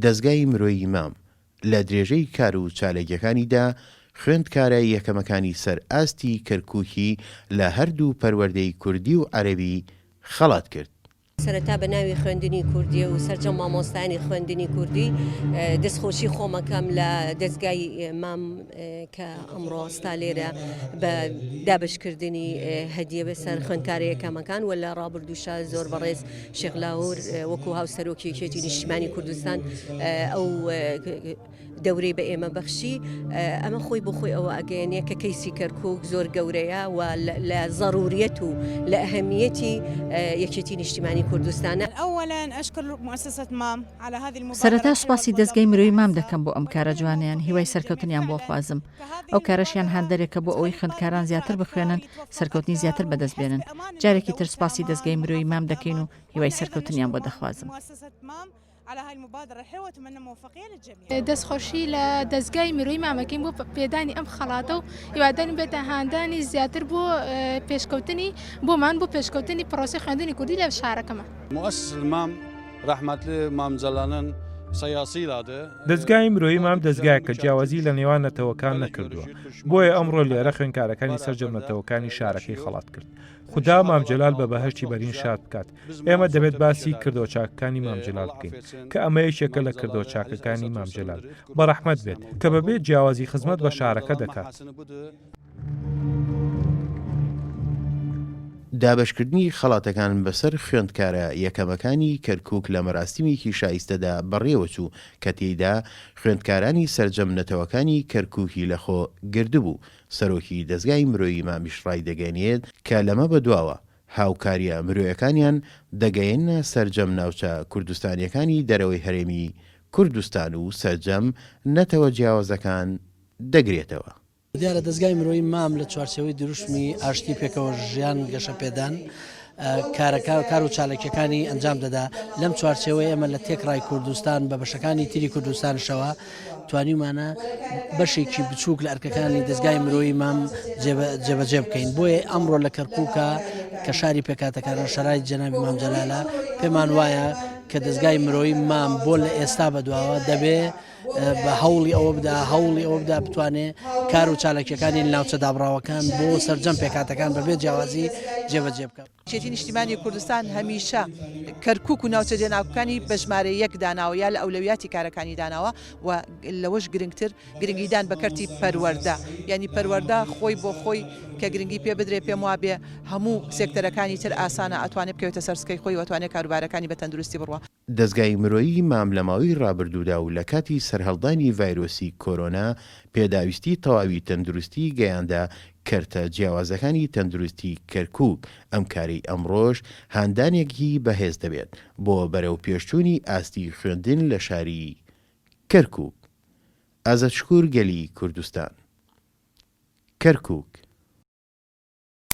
دەزگای مرۆیی مام، لە درێژەی کار و چاالکیەکانیدا، خوێندکارە یەکەمەکانی سەر ئاستی کەرکوکی لە هەردوو پەروەردەی کوردی و عەرەبی خەڵات کرد. سەرەتا بە ناوی خوێندنی کوردی و سەرجەم مامۆستایانی خوێندنی کوردی دەستخۆشی خۆمەکەم لە دەزگای مام کە ئەمڕۆ ستا لێرە بە دابشکردنی هەدیە بەسەر خوێندکارە یەکەمەکان و لە ڕابردووشە زۆر بەڕێز شێخ لاهور وەکو هاوسەرۆکی یەکێتی نیشتیمانی کوردستان ئەو دەورەی بە ئێمە بەخشی ئەمە خۆی بۆ خۆی ئەوە ئەگەێنێ کە کەیسی کەرکک زۆر گەورەیە و لە ضروریەت و لە ئەهمیەتی یەکێتی نیشتیمانی کوردستانە ئەوەلایەن ئەشکر مؤسسەت مام سەرەتا سوپاسی دەستگەی مرۆی مام دەکەم بۆ ئەم کارە جوانیان هیوای سەرکەوتنیان بۆ خوازم. ئەو کارەشیان هاندەرێکە بۆ ئەوەی خوێندکاران زیاتر بخوێنن سەرکەوتنی زیاتر بەدەست بێنن جارێکی تر سپاسی دەستگەی مرۆی مام دەکەین و هیوای سەرکەوتنیان بۆ دەخوازم. دەست خۆشی لە دەستگای مرۆی مامەکەین بۆ پێدانی ئەم خەڵاتە و هیوادارین بێتە هاندانی زیاتر بۆ پێشکەوتنی بۆمان بۆ پێشکەوتنی پرۆسی خوێندنی کوردی لە شارەکەمە مؤسس المام رحمت مام جلانن سیاسی لاده دەزگای مرۆیی مام دەزگایەکە جیاوازی لە نێوان نەتەوەکان نەکردووە بۆیە ئەمڕۆ لێرە خوێنکارەکانی سەرجەم نەتەوەکانی شارەکەی خەڵات کرد خدا مامجلال بە بەهشتی بەرین شاد بکات ئێمە دەبێت باسی کردەوە چاکەکانی مامجلال بکەین کە ئەمە یەکێکە لە کردەوە چاکەکانی مامجلال بەڕەحمەت بێت کە بەبێت جیاوازی خزمەت بە شارەکە دەکات. دابەشکردنی خەڵاتەکان بەسەر خوێندکارە یەکەمەکانی کەرکوک لە مەراسیمێکی شایستەدا بەڕێوەچوو کە تێیدا خوێندکارانی سەرجەم نەتەوەکانی کەرکوکی لەخۆ گردبوو. سەرۆکی دەزگای مرۆیی مامیش ڕایدەگەیەنێت کە لەمە بەدواوە هاوکارییە مرۆیەکانیان دەگەیەننە سەرجەم ناوچە کوردستانییەکانی دەرەوەی هەرێمی کوردستان و سەرجەم نەتەوە جیاوازەکان دەگرێتەوە. دیارە دەزگای مرۆیی مام لە چوارچێوەی دروشمی ئاشتی پێکەوە ژیان گەشەپێدان کارەکە کار و چاالکیەکانی ئەنجام دەدا لەم چوارچێوەی ئەمە لە تێکڕای کوردستان بە بەشەکانی تری کوردستانشەوە توانیمانە بەشێکی بچووک لە ئەرکەکانی دەستگای مرۆیی مام جێبەجێ بکەین بۆیە ئەمڕۆ لە کەرکووکە کە شاری پێکاتەکانە شەرای جەنابی مامجلالە پێمان وایە کە دەستگای مرۆیی مام بۆ لە ئێستا بەدواوە دەبێ بە هەوڵی ئەوە بدا هەوڵی ئەوە بدا بتوانێ کار و چالاکیەکانی ناوچە دابڕاوەکان بۆ سرجەم پێکاتەکان بەبێ جیاوازی جێبەجێ بکە چێتی نیشتیمانی کوردستان هەمیشە کەرکک و ناوچە جێناکانی بەژمارە یەک داناوە یا لە ئەولەویاتی کارەکانی داناوە و لەوەش گرنگتر گرنگیدان بە کەرتی پەروەەردە ینی پەروەەردە خۆی بۆ خۆی کە گرنگی پێ بدرێ پێم وابێ هەموو سێکتەرەکانی تر ئاسانە ئەتوانێت بکەوێتە سەرسکەی خۆی وتوانێت کاروبارەکانی بە تەندروستی بڕە دەزگای مرۆیی مام لە ماوەی رابردوودا و لە کاتی سەرهەڵدانی ڤایرۆسی کۆرۆنا پێداویستی تەواوی تەندروستی گەیاندە کەرتە جیاوازەکانی تەندروستی کەرکوک، ئەم کارەی ئەمڕۆش هاندانێکگی بەهێز دەبێت بۆ بەرەوپێشچوونی ئاستی خوێندن لە شاری کەرکوک. ئازەت شکور گەلی کوردستان. کەرکوک.